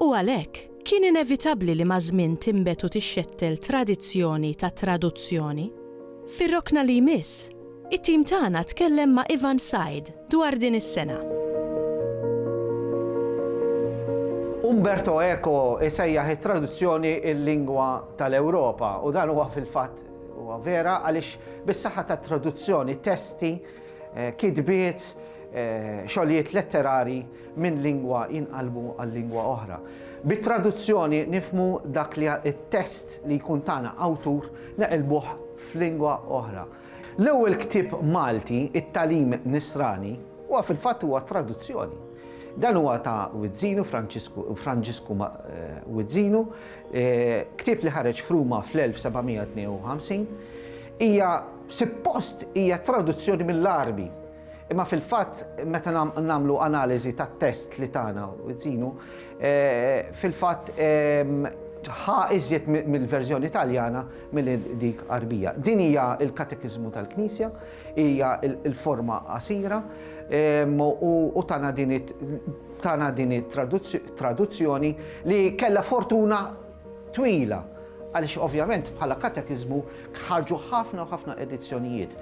u għalhekk kien inevitabbli li maż-żmien tinbet u tixxettel tradizzjoni ta' traduzzjoni. Fir-rokna li jmiss, it-tim tagħna tkellem ma' Ivan Said dwar din is-sena. Umberto Eco jsejjaħ it-traduzzjoni l-lingwa tal-Ewropa u dan huwa fil-fatt huwa vera għaliex bis-saħħa tat-traduzzjoni testi, kitbiet, xogħlijiet letterarji, minn lingwa jinqalbu għal lingwa oħra. Bit-traduzzjoni nifmu dak li t-test li jkun tagħna awtur neqilbuh f'lingwa oħra. L-ewwel ktieb Malti, it-Talim Nisrani, huwa fil-fatt huwa traduzzjoni. Dan huwa ta' Wizzinu, Franġisku eh, Wizzinu, eh, ktieb li ħareġ fruma fl-1752, hija suppost hija traduzzjoni mill-Arbi Imma fil-fatt, meta nagħmlu analiżi tat-test li tagħna żinu, eh, fil-fatt ehm, ħa iżjed mill-verżjoni Taljana mill dik Arbija. Din hija l-katekizmu tal-Knisja, hija l-forma qasira ehm, u tana din it-traduzzjoni li kella fortuna twila għaliex ovvjament bħala katekiżmu ħarġu ħafna u ħafna edizzjonijiet.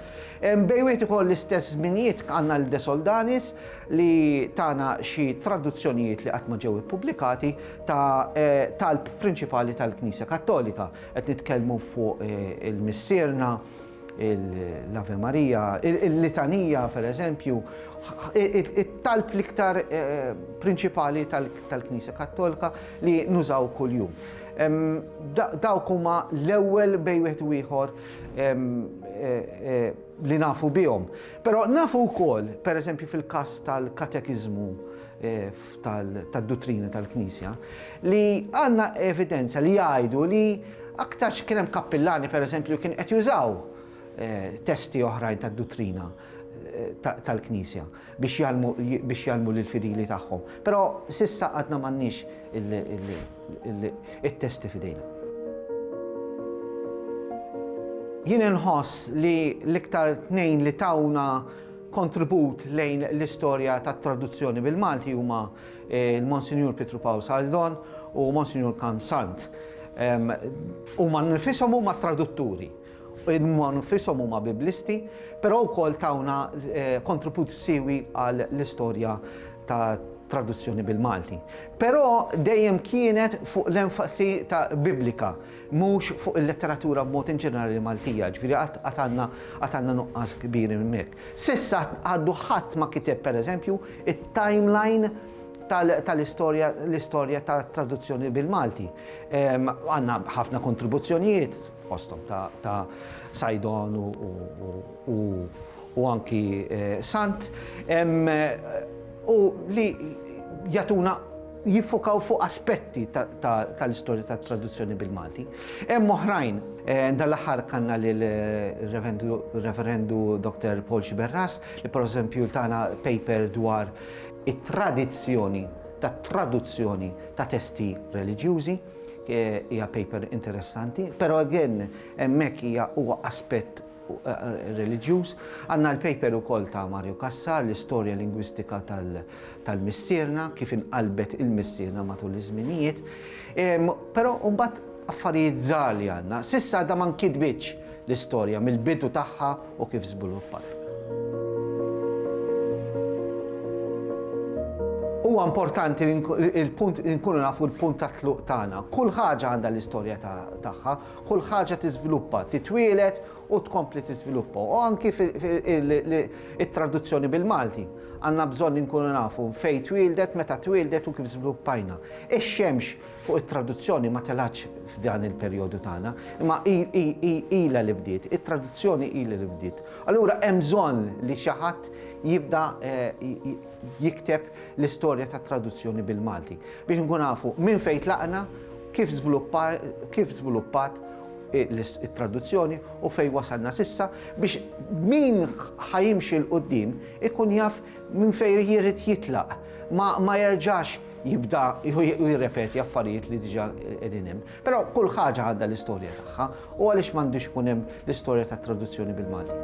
Bej wieħed ukoll l-istess żminijiet għandna l-De Soldanis li tagħna xi traduzzjonijiet li qatt ma ġew ippubblikati ta' eh, talb prinċipali tal-Knisja Kattolika. Qed nitkellmu fuq eh, il-Missierna, l-Ave Maria, il-litanija per eżempju, it-talb l-iktar eh, prinċipali tal-Knisja Kattolika li nużaw kuljum. Dawk huma l-ewwel bej wieħed u ieħor eh, eh, li nafu bihom. Però nafu wkoll, per eżempju fil-każ tal-katekiżmu tad-duttrina tal-Knisja li għandna evidenza li jgħidu li aktarx kien hemm kappillani pereżempju kien qed jużaw eh, testi oħrajn tad-duttrina eh, tal-Knisja biex jalmu biex jalmu lil fidili tagħhom. Però sissa għadna m'għandniex it-testi fidejna. Jien inħoss li l-iktar tnejn li tawna Kontribut lejn l-istorja tat-traduzzjoni bil-Malti huma l-Monsinjur Pietru Pawl Saldon u Monsinjur Kan Sant. Huma nnifishom huma tradutturi, huma nnifishom huma Biblisti, però wkoll tawna kontribut siewi għall-istorja tat traduzzjoni bil-Malti. Però dejjem kienet fuq l-enfasi ta' Biblika. mhux fuq il-letteratura b'mod inġenerali Maltija, jiġifieri għad għad għandna għad għandna nuqqas kbir hemmhekk. S'issa għadu ħadd ma kiteb pereżempju it-timeline tal tal-istorja l-istorja tat-traduzzjoni bil-Malti. Għandna ħafna kontribuzzjonijiet fosthom ta' ta' Saidon u u u u u anki Sant u li jagħtuna jiffokaw fuq aspetti tal-istorja tat-traduzzjoni bil-Malti. Hemm oħrajn, eh, dal-aħħar kanna lil reverendu Dr. Paul Xiberras, li per eżempju tana paper dwar it-tradizzjoni tat traduzzjoni ta' testi reliġjużi eh, hija paper interessanti, però again hemmhekk hija huwa aspett reliġjuż. Għanna l-paper ukoll ta' Mario Kassar, l-istorja lingwistika tal-Missierna, kif inqalbet il-Missierna matul iż-żminijiet. Però mbagħad affarijiet żgħar li għandna. Sissa għadha ma nkitbitx l-istorja mill-bidu tagħha u kif żviluppat. Huwa importanti il-punt nkunu nafu l-punt ta' tluq tagħna. Kull ħaġa għandha l-istorja tagħha, kull ħaġa tiżviluppa, titwieled u tkompli tiżviluppa. U anki it-traduzzjoni bil-Malti. Għandna bżonn inkunu nafu fejn twieldet, meta twieldet u kif żviluppajna. Ix-xemx fuq it-traduzzjoni ma telgħatx f'dan il-perjodu tagħna, imma ilha li bdiet, it-traduzzjoni ilha li bdiet. Allura hemm bżonn li xi ħadd jibda eh, jikteb l-istorja tat-traduzzjoni bil-Malti biex nkun nafu minn fejn tlaqna, kif żviluppat it-traduzzjoni u fejn wasalna s'issa biex min ħa jimxi 'l quddiem ikun jaf minn fejn jrid jitlaq, ma jerġax jibda u jirrepeti affarijiet li diġà qegħdin hemm. Però kull ħaġa għandha l-istorja tagħha u għaliex m'għandux ikun hemm l-istorja tat-traduzzjoni bil-Malti?